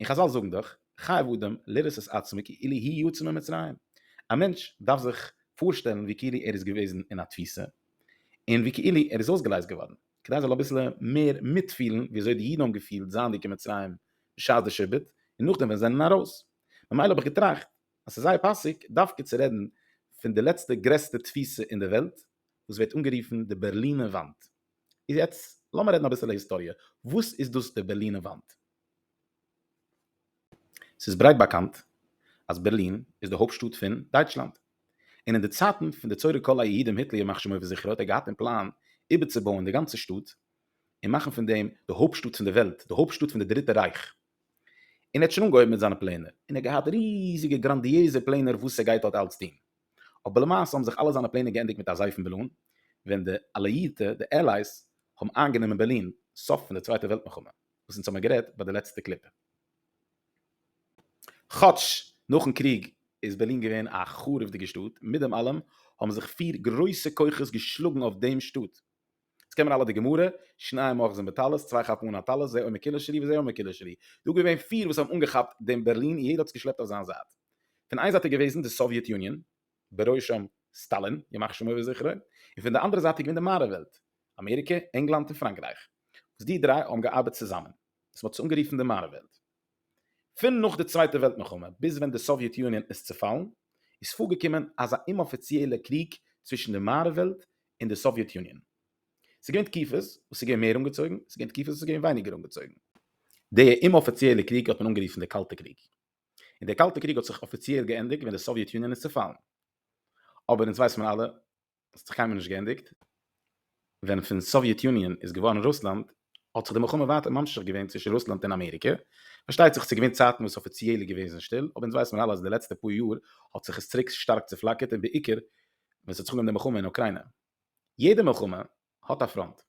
און חזל זאגן דאך, חייב אדם לראות את עצמו כאילו הי' יצא ממצרים, א מענטש דארף זיך פארשטעלן ווי כאילו ער איז געוועזן אין א תפיסה, און ווי כאילו ער איז אויסגעלייזט געווארן, כדי ער זאל אביסל מער מיטפילן ווי אזוי די אידן האבן געפילט זייענדיג אין מצרים בשעת די שעבוד, און נאכדעם ווען זיי זענען ארויס. ממילא האב איך געטראכט אז ס'איז זייער פאסיג דווקא צו רעדן פון די לעצטע גרעסטע תפיסה אין די וועלט, וואס ווערט אנגערופן די בערלינער וואנט. איז יעצט לאמיר רעדן אביסעלע היסטאריע, וואס איז דאס די בערלינע וואנט? ס'איז ברייט באקאנט אז בערלין איז די הויפטשטאט פון דייטשלאנד, און אין די צייטן פון די צורת כל היהודים היטלער ימח שמו וזכרו האט ער געהאט אין פלאן איבערצובויען די גאנצע שטאט און מאכן פון דעם די הויפטשטאט פון די וועלט, די הויפטשטאט פון די דריטע רייך, און ער האט שוין אנגעהויבן מיט זיינע פלענער, און ער האט געהאט ריזיגע גראנדיעזע פלענער וואס ער גייט דארט אלץ טון. אבער למעשה האבן זיך אלע זיינע פלענער געענדיגט מיט א זייפן בעלון ווען די אליאירטע, די Allies, האבן איינגענומען בערלין, סוף פון די צווייטע וועלט מלחמה, וואס אונז האבן גערעדט ביי די לעצטע קליפ. כאטש נאכן קריג איז בערלין געווען א חרוב'דיגע שטאט, מיט דעם אלעם האבן זיך פיר גרויסע כוחות געשלאגן אויף דעם שטאט, עס קען מען אלע די גמרא, שניים אוחזין בטלית, צוויי כאפן אן א טלית, זה אומר קילש לי וזה אומר קילש לי. דא געווען פיר וואס האבן אנגעכאפט דעם בערלין און יעדער האט עס געשלעפט אויף זיין זייט. פון איין זייט איז געוועזן די סאוויעט יוניאן, בראשם סטאלין, ימח שמו וזכרו, און פון די אנדערע זייט איז געווען די מערב וועלט, אמעריקע, ענגלאנד און פראנקרייך, וואס די דריי האבן געארבעט צוזאמען, וואס מען האט עס אנגערופן די מערב וועלט. פון נאך די צווייטע וועלט מלחמה ביז ווען די סאוויעט יוניאן איז צעפאלן איז פארגעקומען אזא אומאפיציעלע קריג צווישן די מערב וועלט און די סאוויעט יוניאן. ס'איז געווען תקופות וואס ס'איז געווען מער אנגעצויגן, ס'איז געווען תקופות וואס ס'איז געווען ווייניגער אנגעצויגן. די אומאפיציעלע קריג האט מען אנגערופן די קאלטע קריג, און די קאלטע קריג האט זיך אפיציעל געענדיגט ווען די סאוויעט יוניאן איז צעפאלן. אבער אונז ווייסט מען אלע האסט זיך קיינמאל נישט געענדיגט. ווען פון סאוויעט יוניאן איז געווארן רוסלאנד האט זיך די מלחמה ווייטער ממשיך געווען צווישן רוסלאנד און אמעריקע. פארשטייט זיך ס'איז געווען צייטן וואס אפיציעל איז געוועזן שטיל, אבער אונז ווייסן אלע אז די לעצטע פאר יאר האט זיך עס צוריק שטארק צופלאקערט און בעיקר ווען ס'האט זיך אנגעהויבן די מלחמה אין אוקריינע. יעדע מלחמה האט א פראנט.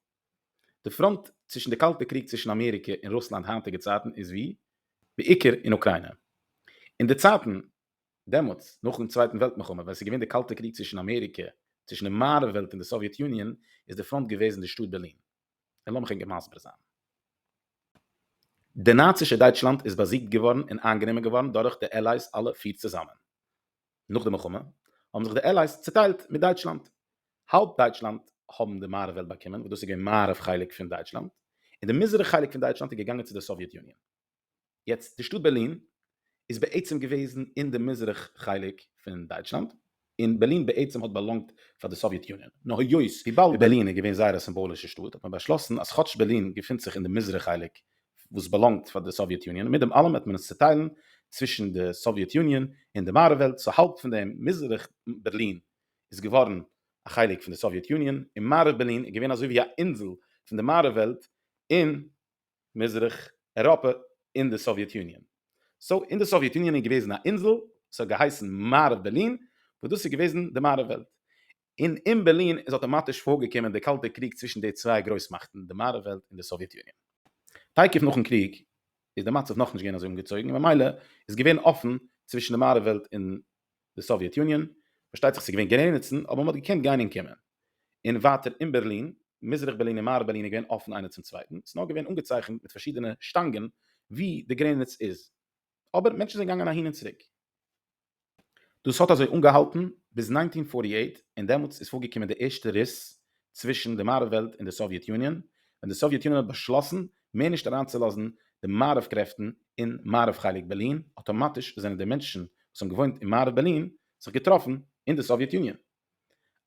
די פראנט צווישן די קאלטע קריג צווישן אמעריקע און רוסלאנד היינטיגע צייטן איז ווי בעיקר אין אוקריינע. אין די צייטן דעמאלטס, נאכן צווייטן וועלט מלחמה, ווען עס איז געווען די קאלטע קריג צווישן אמעריקע, צווישן די מערב וועלט און די סאוויעט יוניאן, איז די פראנט געוועזן די שטאט בערלין. און לאמיך ענק מסביר זיין. די נאצישע דייטשלאנד איז באזיגט געווארן און איינגענומען געווארן דורך די עלייס אלע פיר צוזאמען. נאך די מלחמה, האבן זיך די עלייס צוטיילט מיט דייטשלאנד. האלב דייטשלאנד האבן די מערב וועלט באקומען, וואס דאס איז געווען מערב חלק פון דייטשלאנד, און די מזרח חלק פון דייטשלאנד איז געגאנגען צו די סאוויעט יוניאן. יעצט די שטאט בערלין איז בעצם געוועזן אין די מזרח חלק פון דייטשלאנד, און בערלין בעצם האט באלאנגט פאר די סאוויעט יוניאן, נאר היות וויבאלד בערלין איז געווען זייער א סימבאלישע שטאט האט מען באשלאסן אז כאטש בערלין געפינט זיך אין די מזרח חלק וואס באלאנגט פאר די סאוויעט יוניאן מיט דעם אלעם וועט מען עס צוטיילן צווישן די סאוויעט יוניאן און די מערב וועלט, סאו האלב פון דעם מזרח בערלין איז געווארן א חלק פון די סאוויעט יוניאן און מערב בערלין איז געווען אזוי ווי א אינזל פון די מערב וועלט און מזרח אירופא און די סאוויעט יוניאן. סאו אין די סאוויעט יוניאן איז געוועזן א אינזל וואס האט געהייסן מערב בערלין וואס דאס איז געוועזן די מערב וועלט. און אין בערלין איז אטאמאטיש פארגעקומען די קאלטע קריג צווישן די צוויי גרויסמאכטן די מערב וועלט און די סאוויעט יוניאן. תיכף נאכן קריג איז די מצב נאכנישט געווען אזוי אנגעצויגן און ממילא איז געווען אפן צווישן די מערב וועלט און די סאוויעט יוניאן, פארשטייט זיך ס'געווען גרעניצן אבער מ'האט געקענט גיין און קומען. און ווייטער אין בערלין, מזרח בערלין און מערב בערלין איז געווען אפן איינער צום צווייטן, ס'נאר געווען אנגעצייכנט מיט פארשידענע שטאנגען ווי די גרעניץ איז. אבער מענטשן זענען געגאנגען אהין און צוריק. דאס האט אזוי אנגעהאלטן ביז נײַנצן הונדערט פֿארטי אַכט און דעמאלטס איז פארגעקומען די ערשטע ריס צווישן די מערב וועלט און די סאוויעט יוניאן, ווען די סאוויעט יוניאן האט באשלאסן מער נישט אריינצולאזן די מערב קרעפטן אין מערב חלק בערלין, אטאמאטיש זענען די מענטשן וואס האבן געוואוינט אין מערב בערלין זיך געטראפן אין די סאוויעט יוניאן.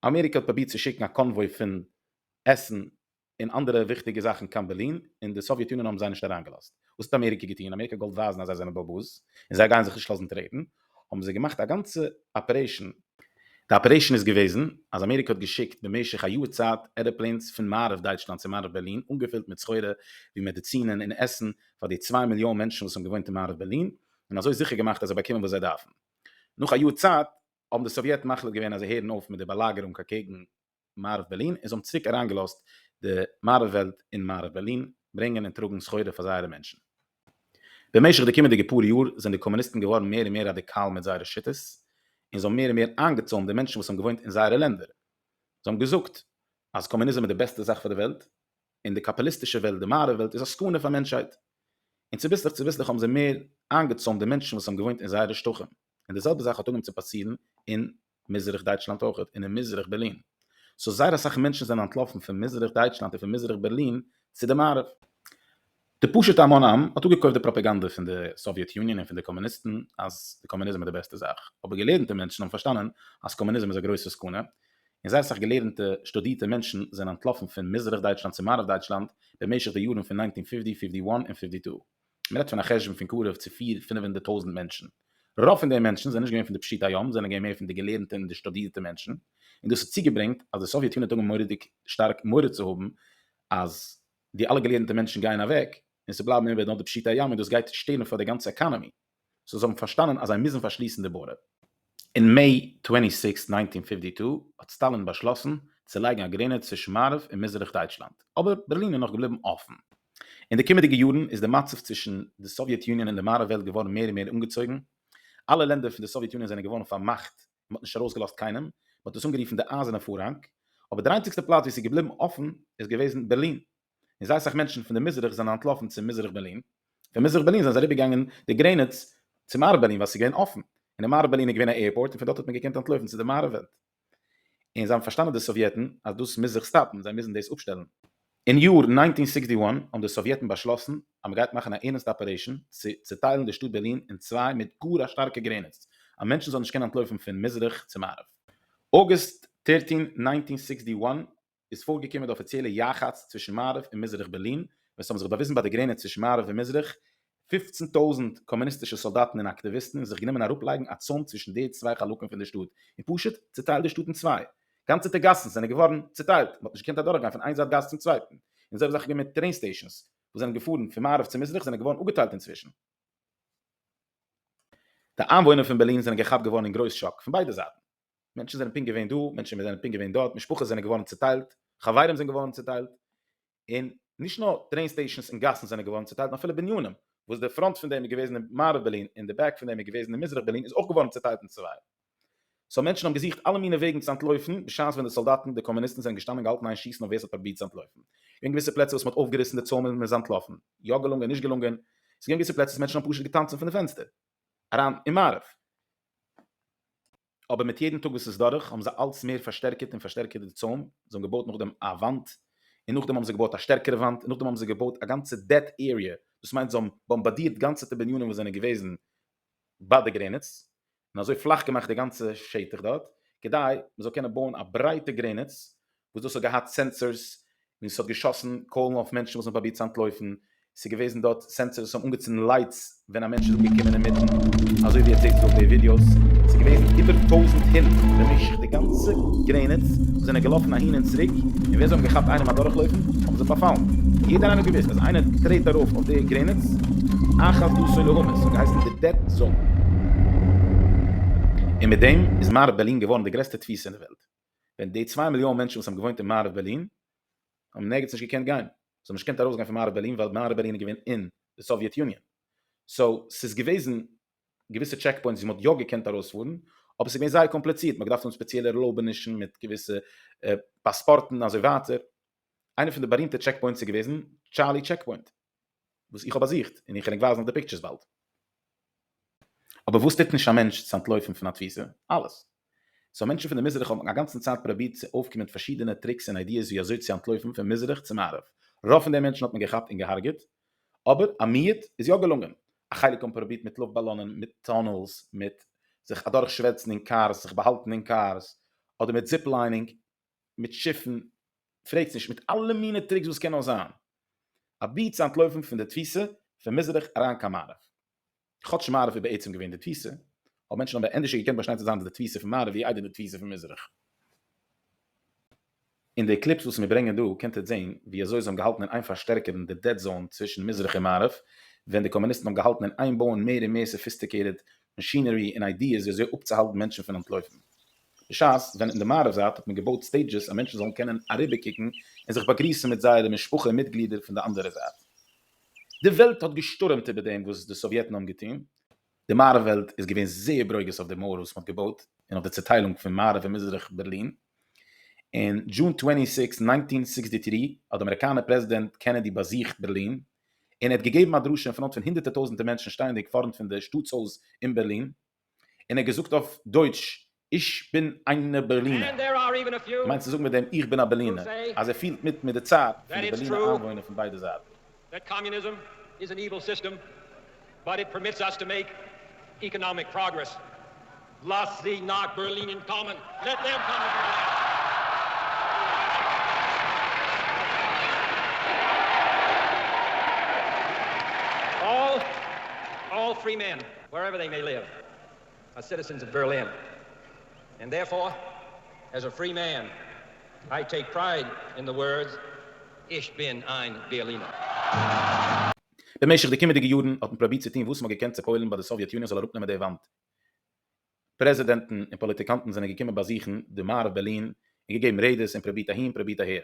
אמעריקע האט פרובירט צו שיקן א קאנוואוי פון עסן און אנדערע וויכטיגע זאכן קיין בערלין, און די סאוויעט יוניאן האבן זיי נישט אריינגעלאזט. וואס האט אמעריקע געטון? אמעריקע האט געוואלט ווייזן אז זיי זענען באבוס און זיי גייען זיך נישט לאזן טרעטן, האבן זיי געמאכט א גאנצע אפערעישאן. די אפערעישאן איז געוועזן אז אמעריקע האט געשיקט במשך א יאר צייט ערעפלעינס פון מערב דייטשלאנד צו מערב בערלין אנגעפילט מיט סחורה ווי מעדיצינען און עסן פאר די צוויי מיליאן מענטשן וואס האבן געוואוינט אין מערב בערלין און אזוי זיכער געמאכט אז זיי באקומען וואס זיי דארפן. נאך א יאר צייט האבן די סאוויעטן מחליט געווען אז זיי הערן אויף מיט די באלאגערונג אקעגן מערב בערלין און זיי האבן צוריק אריינגעלאזט די מערב וועלט אין מערב בערלין ברענגען און טראגן סחורה פאר זייערע מענטשן. במשך די קומענדיגע פאר יאר זענען די קאמוניסטן געווארן מער און מער ראדיקאל מיט זייערע שיטות און זיי האבן מער און מער איינגעצוימט די מענטשן וואס האבן געוואוינט אין זייערע לענדער. זיי האבן געזאגט אז קאמוניזם איז די בעסטע זאך פאר די וועלט און די קאפיליסטישע וועלט, די מערב וועלט, איז א סכנה פאר מענטשהייט. און צוביסלעך צוביסלעך האבן זיי מער איינגעצוימט די מענטשן וואס האבן געוואוינט אין זייערע שטחים. און די זעלבע זאך האט אנגעהויבן צו פאסירן אין מזרח דייטשלאנד אויך און אין מזרח בערלין, סאו זייער אסאך מענטשן זענען אנטלאפן פון מזרח דייטשלאנד און פון מזרח בערלין צו די מערב. די פשוטע המון עם האט אפגעקויפט די פראפעגאנדע פון די סאוויעט יוניאן און פון די קאמוניסטן אז די קאמוניזם איז די בעסטע זאך, אבער געלערנטע מענטשן האבן פארשטאנען אז קאמוניזם איז א גרויסע סכנה, און זייער אסאך געלערנטע שטודירטע מענטשן זענען אנטלאפן פון מזרח דייטשלאנד צו מערב דייטשלאנד במשך די יארן פון נײַנצן הונדערט פֿופֿציק, פֿופֿציק אַיִן און פֿופֿציק צוויי. מען רעדט פון א חשבון פון קרוב צו פיר פינף הונדערט טויזנט מענטשן, רוב פון די מענטשן זענען נישט געווען פון די פשוטי העם, זענען געווען מער פון די געלערנטע און די שטודירטע מענטשן, און דאס האט צוגעברענגט אז די סאוויעט יוניט האבן מורא'דיג שטארק מורא צו האבן אז די אלע געלערנטע מענטשן גייען אוועק און ס'בלייבן איבער נאר די פשוטי העם און דאס גייט שטערן פאר די גאנצע עקאנעמי. סאו זיי האבן פארשטאנען אז זיי מוזן פארשליסן די בארדער. אין מעי טווענטי סיקסט ניינטין פיפטי טו האט סטאלין באשלאסן צו לייגן א גרעניץ צווישן מערב און מזרח דייטשלאנד, אבער בערלין איז נאך געבליבן אפן. אין די קומענדיגע יארן איז די מצב צווישן די סאוויעט יוניאן און די מערב וועלט געווארן מער און מער אנגעצויגן. אלע לענדער פון די סאוויעט יוניאן זענען געווארן פארמאכט, מען האט נישט ארויסגעלאזט קיינעם, מען האט עס אנגערופן די אייזערנע פארהאנג, אבער דער איינציגסטער פלאץ וואו עס איז געבליבן אפן איז געוועזן בערלין. און זייער סאך מענטשן פון די מזרח זענען אנטלאפן צו מזרח ברלין, פון מזרח ברלין זענען זיי אריבער געגאנגען די גרעניץ צו מערב ברלין ווייל עס איז געווען אפן, און אין מערב ברלין איז געווען א עירפארט און פון דארט האט מען געקענט אנטלויפן צו די מערב וועלט, און זיי האבן פארשטאנען די סאוויעטן אז דאס מוז זיך סטאפן, זיי מוזן דאס אפשטעלן. אין יאר נײַנצן הונדערט זעקס און זיבעציק האבן די סאוויעטן באשלאסן אז מען גייט מאכן א ערנסטע אפערעישן צו צוטיילן די שטאט ברלין אין צוויי מיט גאר א שטארקע גרעניץ אז מענטשן זאלן נישט קענען אנטלויפן פון מזרח צו מערב. אוגוסט דרײַצן, נײַנצן הונדערט זעקס און זיבעציק איז פארגעקומען די אפיציעלע יחץ צווישן מערב און מזרח בערלין, ווען ס'האבן זיך באוויזן ביי די גרעניץ צווישן מערב און מזרח פֿופֿצן טויזנט קאמוניסטישע סאלדאטן און אקטיוויסטן און זיך גענומען אראפלייגן א צוים צווישן די צוויי חלקים פון די שטאט און פשוט צוטיילט די שטאט אין צוויי. גאנצעטע גאסן זענען געווארן צוטיילט, מ'האט נישט געקענט אדורכגיין פון איין זייט גאס צום צווייטן, און זעלבע זאך איז געווען מיט טרעין סטעישאנס וואס זענען געפארן פון מערב צו מזרח זענען געווארן אפגעטיילט אינצווישן. די איינוואוינער פון בערלין זענען געכאפט געווארן אין גרויס שאק פון ביידע זייטן. מענטשן זענען פונקט געווען דא, מענטשן זענען פונקט געווען דארט, משפחות זענען געווארן צעטיילט, חברים זענען געווארן צעטיילט, און נישט נאר טרעין סטעישאנס און גאסן זענען געווארן צעטיילט, נאר אפילו בנינים, וואס די פראנט פון דעם איז געוועזן אין מערב בערלין און די בעק פון דעם איז געוועזן אין מזרח בערלין איז אויך געווארן צעטיילט אין צוויי. סאו מענטשן האבן געזוכט אלע מינע וועגן צו אנטלויפן, בשעת ווען די סאלדאטן, די קאמוניסטן זענען געשטאנען געהאלטן איין שיסן אויף ווער ס'האט פרובירט צו אנטלויפן. געווען געוויסע פלעצער וואס מ'האט אויפגעריסן די צוימען און מ'איז אנטלאפן. יא געלונגען, נישט געלונגען. ס'געווען געוויסע פלעצער וואס מענטשן האבן פשוט געטאנצן פון די פענסטער. אריין אין מערב. אבער מיט יעדן טאג וואס איז דורך האבן זיי אלץ מער פארשטערקערט און פארשטערקערט די צוים, זיי האבן געבויט נאכדעם א וואנט, און נאכדעם האבן זיי געבויט א שטערקערע וואנט, און נאכדעם האבן זיי געבויט א גאנצע דעט עריע, דאס מיינט זיי האבן באמבאדירט גאנצעטע בנינים וואס זענען געוועזן ביי די גרעניץ, און אזוי פלאך געמאכט די גאנצע שטח דארט, כדי מען זאל קענען בויען א ברייטע גרעניץ וואס דאס האט געהאט סענסארס און עס האט געשאסן קוילן אויף מענטשן וואס האבן פרובירט צו אנטלויפן, עס איז געוועזן דארט סענסארס וואס האבן אנגעצינדן לייטס ווען א מענטש איז אנגעקומען אינמיטן, אזוי ווי עטס זעהט עס אויף די ווידיאוס, עס איז געוועזן איבער טויזנט הונט במשך די גאנצע גרעניץ וואס זענען געלאפן אהין און צוריק, און ווער זיי האבן געכאפט איינעם אדורכלויפן האבן זיי פארפאלן, יעדער איינער האט געוואוסט אז איינער טרעט ארויף אויף די גרעניץ, אחת דו סולו הומעס האט געהייסן די דעט זאון. און מיט דעם איז מערב בערלין געווארן די גרעסטע תפיסה אין די וועלט. ווען די צוויי מיליאן מענטשן וואס האבן געוואוינט אין מערב בערלין האבן נערגיץ נישט געקענט גיין, זיי האבן נישט געקענט ארויסגיין פון מערב בערלין ווייל מערב בערלין איז געווען אין די סאוויעט יוניאן, סאו ס'איז געוועזן געוויסע טשעק פוינטס ווי מ'האט יא געקענט ארויספארן, אבער ס'איז געווען זייער קאמפליצירט, מ'האט געדארפט האבן ספעציעלע ערלויבענישן מיט געוויסע פאספארטן אזוי ווייטער, איינע פון די בארימטע טשעק פוינטס איז געוועזן טשארלי טשעק פוינט. וואס איך האב באזוכט, און איך געדענק ווייזן אויף די פיקטשערס באלד. אבער וואס טוט נישט א מענטש צו אנטלויפן פון א תפיסה? אלעס. סאו מענטשן פון די מזרח האבן א גאנצן צייט פראבירט צו אויפקומען מיט פארשידענע טריקס און איידיעס ווי אזוי צו אנטלויפן פון מזרח צו מערב. רוב פון די מענטשן האט מען געכאפט און געהארגעט, אבער א מיעוט איז יא געלונגען. א חלק האבן פראבירט מיט לופט באלאנען, מיט טונעלס, מיט זיך אדורך שווערצן אין קארס, זיך באהאלטן אין קארס, אדער מיט זיפ ליינינג. מיט שיפן, פרעגטס נישט, מיט אלע מינע טריקס וואס קען נאר זיין, אבי צו אנטלויפן פון די תפיסה פון מזרח אריין קיין מערב. כאטש מערב איז בעצם געווען די תפיסה, האבן מענטשן אבער ענדערש געקענט באשטיין צו זיין דאס די תפיסה פון מערב ווי איידער די תפיסה פון מזרח. אין די קליפס וואס מיר ברענגען דא קענט איר זען ווי אזוי זיי האבן געהאלטן אין איין פארשטערקערן די דעד זאון צווישן מזרח און מערב, ווען די קאמוניסטן האבן געהאלטן אין איין בויען מער און מער סאפיסטיקעיטעד מאשינערי און איידיעס ווי אזוי אפצוהאלטן מענטשן פון אנטלויפן. בשעת ווען אין די מערב זייט האט מען געבויט סטעידזשעס אז מענטשן זאלן קענען אריבערקוקן און זיך באגריסן מיט זייערע משפחה מיטגלידער פון די אנדערע זייט. די וועלט האט געשטורעמט איבער דעם וואס די סאוויעטן האבן געטון. די מערב וועלט איז געווען זייער ברוגז אויף די מויער וואס מען האט געבויט און אויף די צעטיילונג פון מערב און מזרח בערלין. אין June טווענטי סיקס, ניינטין סיקסטי טרי האט די אמעריקאנער פרעזידענט קענעדי באזוכט בערלין און ער האט געגעבן א דרשה אין פראנט פון הונדערטער טויזנטער מענטשן שטייענדיג פארנט פון די שטאטסהויז אין בערלין, און ער האט געזאגט אויף דויטש איך בין איינע בערלינער, געמיינט צו זאגן מיט דעם איך בין א בערלינער אז ער פילט מיט מיט די צייט פון די בערלינער איינוואוינער פון ביידע זייטן. באט איט פערמיטס אס טו מעיק איקאנאמיק פראגרעס. לאזט זיי נאך בערלינען קאמען, לעט דעם קאמען טו בערלין. אלל אלל פרי מען ווער עווער דעי מעי ליוו אר סיטיזענס אוו בערלין און דערפאר עז א פרי מען איי טעיק פרייד אין די ווארדס איך בין איין בערלינער. במשך די קומעדיגע יארן האט מען פראבירט צו טון וואס מען האט געקענט צו פועל'ן ביי די סאוויעט יוניאן זאל אראפנעמען די וואנט. פרעזידענטן און פאליטיקאנטן זענען געקומען באזוכן די מערב בערלין און געגעבן רעדעס און פראבירט אהין פראבירט אהער.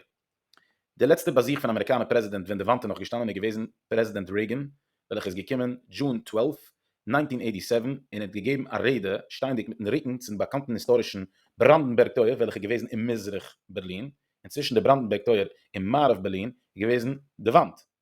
די לעצטע באזוך פון אמעריקאנער פרעזידענט ווען די וואנט איז נאך געשטאנען איז געוועזן פרעזידענט רעיגען וועלכע איז געקומען June twelfth, nineteen eighty seven און האט געגעבן א רעדע שטייענדיג מיטן רוקן צום באקאנטן היסטארישן בראנדענבערג טויער וועלכע איז געוועזן אין מזרח בערלין און צווישן די בראנדענבערג טויער און מערב בערלין איז געוועזן די וואנט.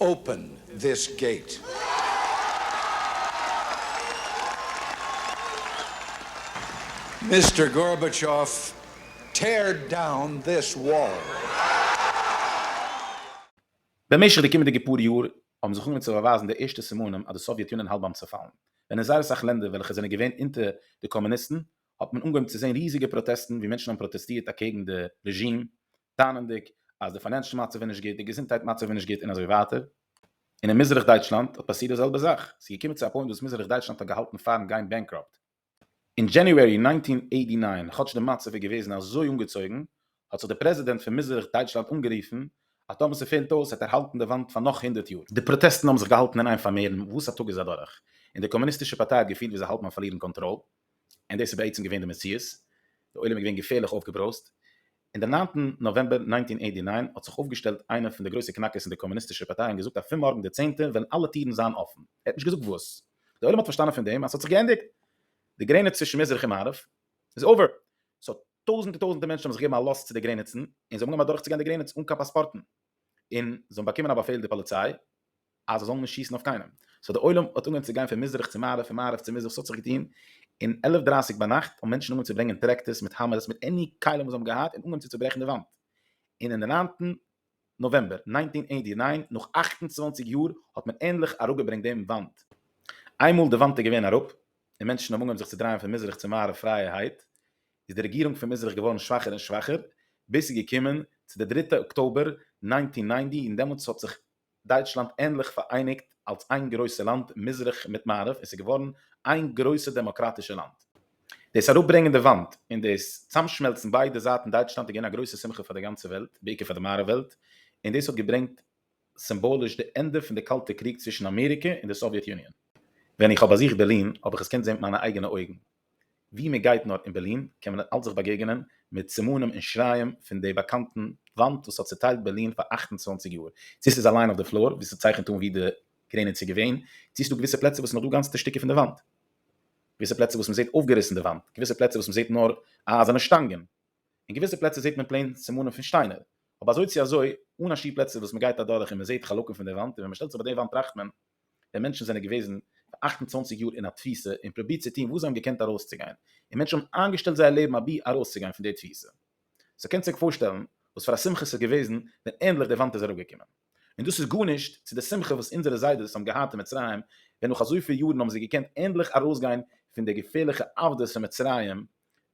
אופען דיס געיט. מיסטער גארבעטשאוו, טעיר דאון דיס וואל. במשך די קומענדיגע פאר יאר האבן זיך אנגעהויבן צו באווייזן די ערשטע סימנים אז די סאוויעט יוניאן האלט ביים צעפאלן, ווען אין זייער אסאך לענדער וועלכע זענען געווען אונטער די קאמוניסטן האט מען אנגעהויבן צו זען ריזיגע פראטעסטן ווי מענטשן האבן פראטעסטירט אקעגן די רעזשים טענה'נדיג אז די פיינענשל מצב איז נישט גוט, די געזונטהייט מצב איז נישט גוט און אזוי ווייטער. און אין מזרח דייטשלאנד האט פאסירט די זעלבע זאך, ס'איז געקומען צו א פוינט וואס מזרח דייטשלאנד האט געהאלטן פארן גיין בענקראפט. אין דזשעניוערי נײַנצן הונדערט אַכט און נײַן, כאטש די מצב איז געוועזן אזוי אנגעצויגן, האט זיך די פרעזידענט פון מזרח דייטשלאנד אנגערופן אז טאמער ס'פעלט אויס וועט ער האלטן די וואנט פאר נאך הונדערט יאר. די פראטעסטן האבן זיך געהאלטן אין איין פאר מערן וואס א טאג איז אדורך, און די קאמוניסטישע פארטיי האט געפילט ווי זיי האלטן אויף פארלירן קאנטראל, און דאס איז בעצם געווען די מציאות, די עולם איז געווען געפערליך אויפגעברויזט, אין דעם ניינטן נאוועמבער נײַנצן הונדערט אַכט און נײַן האט זיך אויפגעשטעלט איינער פון די גרויסע קנאקערס אין די קאמוניסטישע פארטיי און געזאגט אז פון מארגן די צענטע וועלן אלע טירן זיין אפן, ער האט נישט געזאגט וואס. די עולם האט פארשטאנען פון דעם אז ס'האט זיך געענדיגט, די גרעניץ צווישן מזרח און מערב איז אווער. סא טויזנטער טויזנטער מענטשן האבן זיך געגעבן א לאז צו די גרעניצן און זיי האבן אנגעהויבן אדורכצוגיין די גרעניץ אן קיין פאספארטן און זיי האבן באקומען א באפעל די פאליציי אז זיי זאלן נישט שיסן אויף קיינעם, סאו די עולם האט אנגעהויבן צו גיין פון מזרח צו מערב פון מערב צו מזרח, ס'האט זיך געטון און עלף דרייסיג ביינאכט האבן מענטשן אנגעהויבן צו ברענגען טרעקטערס מיט האמערס מיט עני כלים וואס זיי האבן געהאט און אנגעהויבן צו צוברעכן די וואנט, און אין די ניינטן נאוועמבער נײַנצן הונדערט אַכט און נײַן נאך אַכט און צוואַנציק יאר האט מען ענדליך אראפגעברענגט דעם וואנט. איינמאל די וואנט איז געווען אראפ און מענטשן האבן אנגעהויבן זיך צו דרייען פון מזרח צו מערב פרייערהייט, איז די רעגירונג פון מזרח געווארן שוואכער און שוואכער, ביז ס'איז געקומען צו די דריטע אקטאבער נײַנצן הונדערט נײַנצן און דעמאלטס האט זיך דייטשלאנד ענדליך פאראייניגט אלס איין גרויסע לאנד מזרח מיט מערב און ס'איז געווארן איין גרויסע דעמאקראטישע לאנד. דאס אראפברענגען די וואנט און דאס צאמשמעלצן ביידע זייטן דייטשלאנד איז געווען א גרויסע שמחה פאר די גאנצע וועלט, בעיקר פאר די מערב וועלט, און דאס האט געברענגט סימבאליש די ענדע פון די קאלטע קריג צווישן אמעריקע און די סאוויעט יוניאן. ווען איך האב באזוכט בערלין האב איך עס קענט זען מיט מיינע אייגענע אויגן. ווי מען גייט נאר אין בערלין קען מען נאך אלץ זיך באגעגענען מיט סימנים און שריים פון די באקאנטן וואנט וואס האט צוטיילט בערלין פאר אַכט און צוואַנציק יאר, צו ס'איז אליין אויף די פלאר וואו ס'צייכנט אן ווי די גרעניץ איז געווען, צו ס'דא געוויסע פלעצער וואס נאכדא גאנצעטע שטיקער פון די וואנט, געוויסע פלעצער וואס מ'זעט אויפגעריסן די וואנט, געוויסע פלעצער וואס מ'זעט נאר אייזערנע שטאנגען, און געוויסע פלעצער זעט מען פלעין סימנים פון שטיינער, אבער אזוי צו אזוי אן א שיעור פלעצער וואס מ'גייט אדורך און מ'זעט חלקים פון די וואנט, און ווען מ'שטעלט זיך ביי די וואנט טראכט מען. ווען מענטשן זענען געוועזן פאר אַכט און צוואַנציק יאר אין א תפיסה און פרובירט צו טון וואס זיי האבן געקענט ארויסצוגיין, און מענטשן האבן איינגעשטעלט זייער לעבן אבי ארויסצוגיין פון די תפיסה. סאו קענסט עק פארשטעלן וואס פאר א שמחה ס'איז געוועזן ווען ענדליך די וואנט איז אראפגעקומען. און דאס איז גארנישט צו די שמחה וואס אונזערע זיידעס האבן געהאט אין מצרים ווען נאך אזויפיל יארן האבן זיי געקענט ענדליך ארויסגיין פון די געפערליכע עבדות פון מצרים,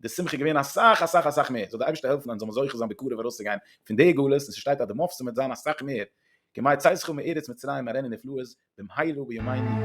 די שמחה איז געווען אסאך אסאך אסאך מער, זאל די אייבערשטער העלפן אז אונז זאל מען זוכה זיין בקרוב ארויסצוגיין פון די גלות, און ס'שטייט אז די מופתים וועט זיין אסאך מער, כמה יצאתך מארץ מצרים מראה לי נפלאות במהרה בימינו.